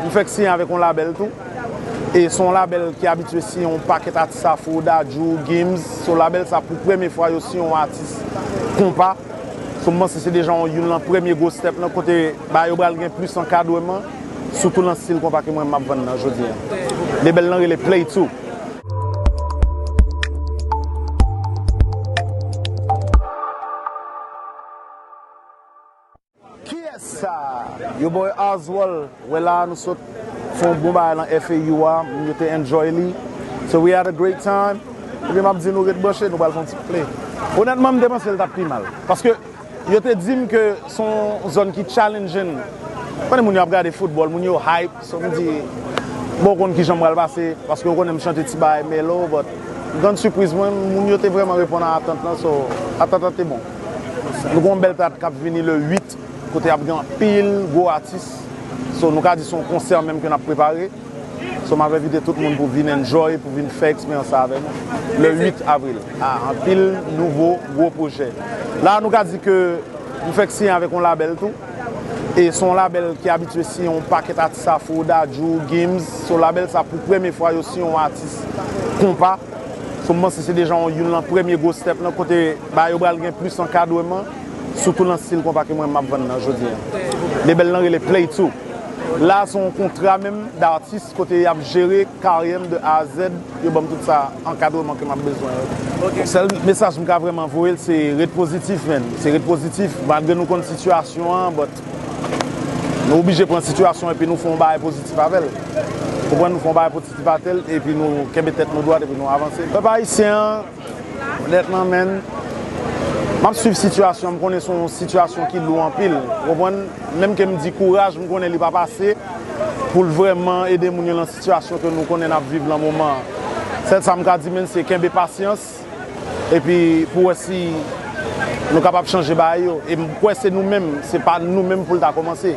M fèk siyen avèk yon labèl tou. E se yon labèl ki abitye siyen yon pakèt atis afro, dadju, gims. So labèl sa pou premye fwa yo siyen yon atis konpa. So m panse se deja yon youn lan premye gwo stèp lan kote bagay yo pral gen plis ankadreman. Sitou lan stil konpa ke mwen menm m ap vann lan jodi an. Lebèl lan rele Play Two. Kiyes sa yo boy Oswald we la nou sot fon bon bagay lan FAU a moun yo te enjoy li so we had a great time ebyen map di nou ret branche nou pral fon ti play onètman m te panse l tap pi mal paske yo te dim ke son zòn ki challenging konnen moun yo ap gade football moun yo hype. Samedi Mwen konn kijan pral pase paske ou konnen m chante ti bagay melo but grand sipriz mwen moun yo te vreman reponn a atant lan so atant lan te bon nou gen yon bèl date kap vini le 8 kote ap gen anpil gwo atis so nou ka di son konsè menm ke nap prepare so map envite tout moun pou vin enjoy pou vin fè eksperyans sa avè nou le 8 avril a anpil nouvo gwo projè la nou ka di ke nou fèk siyen avèk yon label tou. E son label ki abitye siyen yon pakèt atis afro, dadju, gims, so label sa pou premye fwa yo siyen yon atis konpa, so m panse se deja yon youn lan premye gwo step nan kote bagay yo pral gen plis ankadreman sitou nan stil konpa ke mwen map vann nan jodi an. Lebel lan rele Play 2. La se yon kontra menm datis kote yap jere karyèm de A a zèd. Yo banm tout sa ankadreman ke map bezwen yo. Donk sèl mesaj m ka vrèman voye l se ret pozitif menn. Se ret pozitif malgre nou konn sitiyasyon an but nou oblije pran sitiyasyon epi nou fè yon bagay pozitif avè l. Konprann nou fè yon bagay pozitif avè l epi nou kenbe tèt nou dwat epi nou avanse. Pèp ayisyen an nèt nan men n. Map swiv sitiyasyon an m konnen se yon sitiyasyon ki lou anpil ou konprann menm ke m di kouraj m konnen li pap ase pou l vrèman ede moun yo lan. Sitiyasyon ke nou konnen nap viv lan moman an, sèl sa m ka di menn se kenbe pasyans epi pou wè si nou kapab chanje bagay yo e m kwè se nou menm, se pa nou menm pou l ta kòmanse.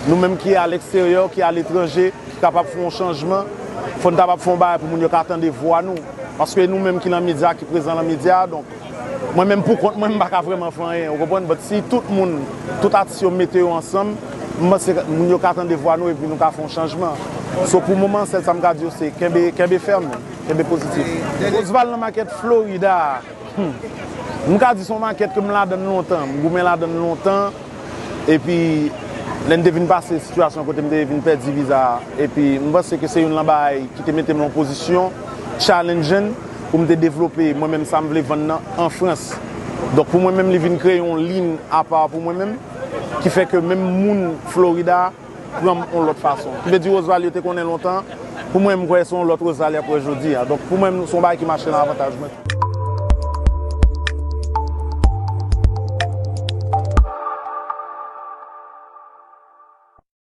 Nou menm ki a leksteryè, ki a letranje, ki kapab fè yon chanjman, fò n kapab fè yon bagay pou moun yo ka tande vwa nou paske e nou menm ki lan medya, ki prezan lan medya a donk. Mwen menm pou kont mwen m pa ka vrèman fè anyen ou konprann but si tout moun, tout atis yo mete yo ansanm m panse moun yo ka tande vwa nou epi nou ka fè yon chanjman so pou moman sèl sa m ka di yo se kenbe kenbe fèm kenbe pozitif. Osval nan makèt Florida a humm m ka di se yon makèt ke m ladann lontan m goumen ladann lontan. Epi, lè m te vin pase sitiyasyon kote m te vin pèdi viza a, epi m panse ke se youn lan bagay ki te mete m an pozisyon challenging pou m te devlope mwen menm sa m vle vann nan an Frans. Donk pou mwen menm li vin kreye yon lin apa pou mwen menm ki fè ke menm moun Florida, pran m yon lòt fason. Ki vle di Roseval yo te konnen lontan, pou mwen m kwè se yon lòt Roseval y ap wè jodi a. Donk pou mwen se yon bagay ki mache nan avantaj mwen.